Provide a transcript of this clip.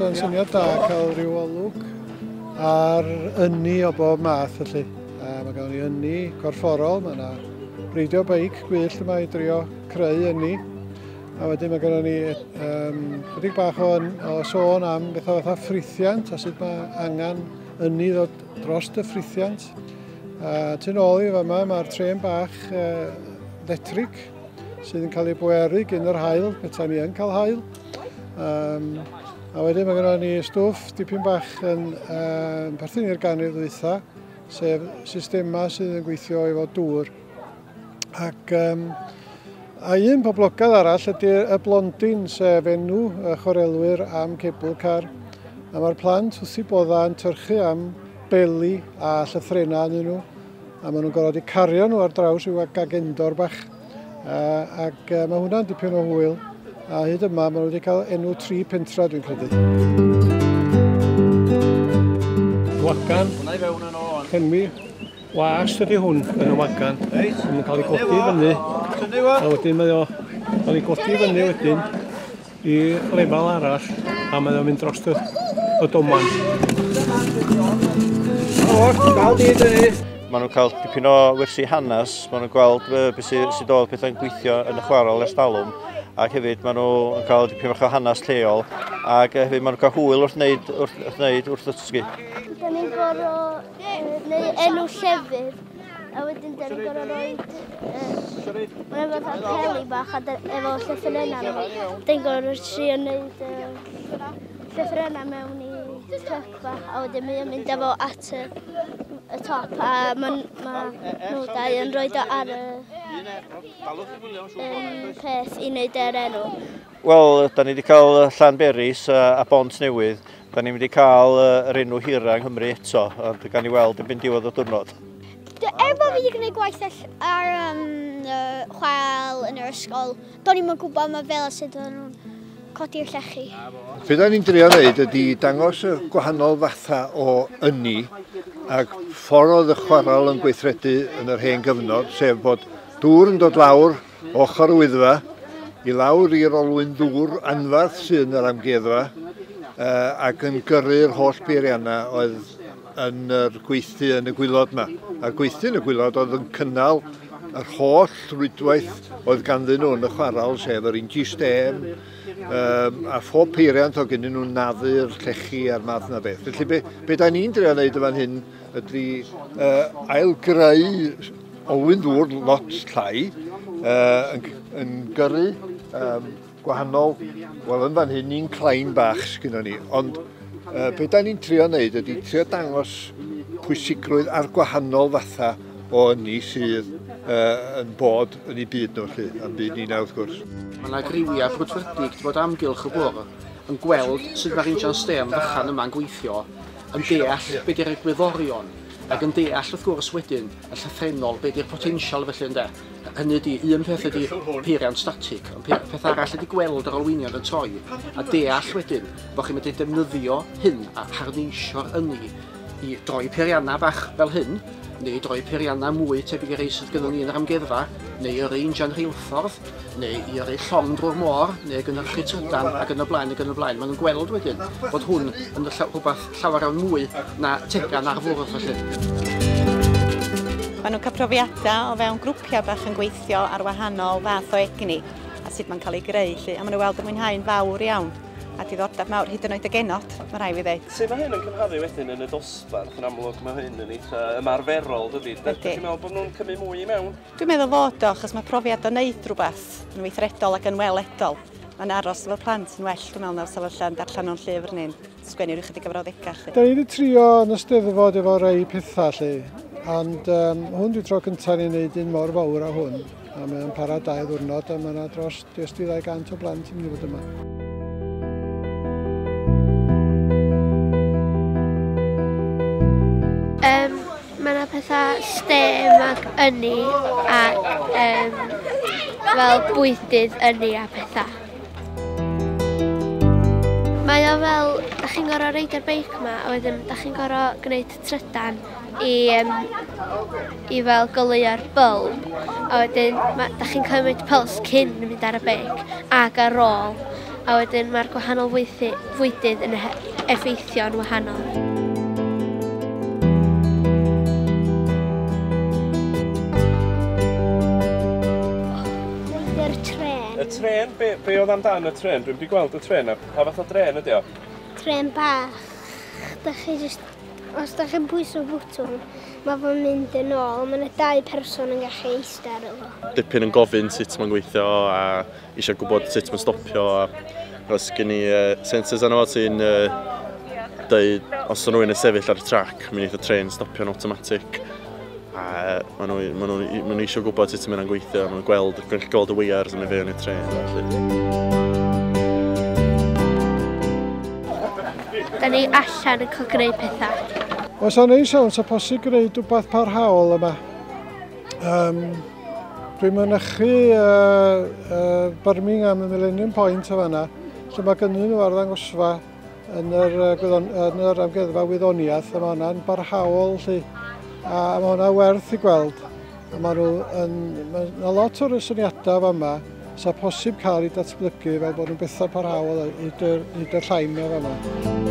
yn syniad da cael rhyw olwg ar ynni o bob math felly. A mae gael ni ynni corfforol, mae yna reidio beic gwyllt yma i drio creu ynni. A wedyn mae gennym ni um, chydig bach o, o sôn am bethau fatha ffrithiant a sut mae angen ynni ddod dros y ffrithiant. A tyn ôl i fama mae'r tren bach uh, letrig sydd yn cael ei bweru gyn yr hael, bethau ni yn cael hael. Um, a wedyn mae gennym ni stwff dipyn bach yn um, perthyn i'r ganrif ddwytha, sef systemau sydd yn gweithio efo dŵr. Ac um, a un poblogaidd arall ydy y blondin, sef enw y chwarelwyr am cebl car. A mae'r plant wrth i bodda yn tyrchu am beli a llythrenau yn nhw. A maen nhw'n gorfod i cario nhw ar draws i'w gagendor bach. A, ac uh, mae hwnna'n dipyn o hwyl. A hyd yma maen nhw wedi cael enw tri pentra dwi'n credu. Wacan, Hwnna i fewn yn ôl. Henwi, Wast ydy hwn yn y wagan. Reit. Mae'n cael ei godi fyny. Tynnu fo. A wedyn mae o cael ei godi fyny wedyn i lefel arall a mae o'n mynd dros y, y doman. Maen nhw'n cael dipyn o wersi hanes, maen nhw'n gweld beth sydd sy oedd pethau'n gweithio yn y chwarel ers dalwm ac hefyd maen nhw'n cael dipyn bach o hanes lleol ac hefyd maen nhw'n cael hwyl wrth wneud wrth, wrth, wneud, wrth ddysgu. Dyna ni'n gorau neu enw llefydd. A wedyn dyn ni'n gorau roi... Mae'n efo dda peli bach a efo llyffyn yna. Dyn ni'n gorau roi tri o wneud llyffyn yna mewn i truck bach. A wedyn mae'n mynd efo at y, y top a mae'n ma nhw dau yn rhoi do ar y um, peth i wneud yr enw. Wel, da ni wedi cael Llanberis a Bont Newydd. Da ni'n mynd i cael yr enw hira yng Nghymru eto, ond gan i weld yn byn diwedd y diwrnod. Er bod fi wedi gwneud gwaith ar um, chwarael yn yr ysgol, do'n i'n gwybod mae fel a sut o'n nhw'n codi'r llechi. Be da ni'n drio wneud ydy dangos y gwahanol fatha o ynni ac ffordd oedd y chwarael yn gweithredu yn yr hen gyfnod, sef bod dŵr yn dod lawr ochr Wyddfa, i lawr i'r olwyn ddŵr anfarth sydd yn yr amgueddfa ac yn gyrru'r holl beiriannau oedd yn yr gweithdy yn y gwylod yma. A'r gweithdy yn y gwylod oedd yn cynnal yr holl rwydwaith oedd ganddyn nhw yn y chwarel, sef yr inji stêm, um, a phob peiriant o gynnu nhw'n naddu'r llechi a'r math na beth. Felly be, be da ni'n drio wneud y fan hyn ydy uh, ailgreu olwyn ddŵr lot llai uh, yn, yn gyrru um, gwahanol, wel yn fan hyn ni'n clain bach sgynno ni, ond uh, beth da ni'n trio wneud ydy trio dangos pwysigrwydd ar gwahanol fatha o ynni sydd uh, yn bod yn ei byd nhw lle, yn byd ni'n wrth gwrs. Mae yna griwiau brwdfrydig bod amgylch y bwr yn gweld sut mae'r injan stêm fychan yma'n gweithio yn deall be di'r egwyddorion ac yn deall wrth gwrs wedyn y llythrennol be di'r potensial felly ynde. Hynny ydi, un peth ydi peiriant static, ond pe- peth arall ydi gweld yr olwynion yn troi a deall wedyn bod chi'n medru defnyddio hyn a harneisio'r ynni i droi peiriannau bach fel hyn neu droi peiriannau mwy tebyg i rei sydd gynnon ni yn yr amgueddfa neu yrru injan rheilffordd, neu i yrru llong drwy'r môr, neu gynhyrchu trydan, ac yn y blaen, ac yn y blaen. Maen nhw'n gweld wedyn bod hwn yn rhywbeth llawer iawn mwy na tegan ar fwrdd, felly. Maen nhw'n cael profiadau o fewn grwpiau bach yn gweithio ar wahanol fath o egni a sut mae'n cael ei greu, lle, a maen nhw'n weld y mwynhau'n fawr iawn. a diddordeb mawr, hyd yn oed y genod, mae rhaid fi ddeud. Sut mae hyn yn cymharu wedyn yn y dosbarth? Yn amlwg mae hyn yn eitha ymarferol, dydy? Ydych chi'n meddwl bod nhw'n cymryd mwy i mewn? Dwi'n meddwl fod o, achos mae profiad o wneud rhywbeth yn weithredol ac yn weledol. Mae'n aros efo plant yn well, dwi'n meddwl, na'r sefyllfa yn darllen nhw'n llyfr neu'n sgwennu rhyw chydig o frawddegau. Lle. Da ni wedi trio yn y steddfod efo rei pethau lle, ond um, hwn dwi'n tro cyntaf ni'n gwneud un mor fawr a hwn. A mae o'n para dau ddwrnod a mae yna dros des di 200 o blant yn mynd i fod yma. pethau stem ac ynni a um, fel bwydydd ynni a pethau. Mae o fel, da chi'n gorau reid ar beic yma a wedyn da chi'n gorau gwneud trydan i, um, i fel goleuo'r bylb. A wedyn, ma, da chi'n cymryd pyls cyn mynd ar y beic ac ar ôl. A wedyn, mae'r gwahanol fwydydd yn effeithio'n wahanol. Bwydy'r tren. Y tren? Be, be oedd amdan y tren? Dwi'n wedi gweld y tren. Pa fath o dren ydy o? Tren bach. Da chi just... Os da chi'n pwyso bwtwm, mae fo'n mynd yn ôl. Mae yna dau person yn gallu eistedd ar efo. Dipyn yn gofyn sut mae'n gweithio a eisiau gwybod sut mae'n stopio. Os gen i uh, sensors arno fo sy'n uh, dweud os o'n rhywun yn sefyll ar y trac, mi'n eitha tren stopio'n automatic. A maen nhw, maen nhw, maen nhw eisiau gwybod sut mae'n gweithio, maen nhw'n gweld, gwneud gweld y weiars yn ei fewn i'r tren. Da ni allan yn cael gwneud pethau. Os o'n ei sôn, sa posib gwneud rhywbeth parhaol yma. Um, dwi'n mynychu uh, uh, Birmingham y Millennium Point o fanna, lle mae gynnyn nhw arddangosfa yn yr, gwyddon, yn yr amgueddfa wyddoniaeth a mae hwnna'n barhaol lli. A mae hwnna werth i gweld. A mae nhw yn, mae yna lot o'r syniadau fa yma sa posib cael ei datblygu fel bod nhw'n bethau parhaol i dy, i dy llain na fa yma.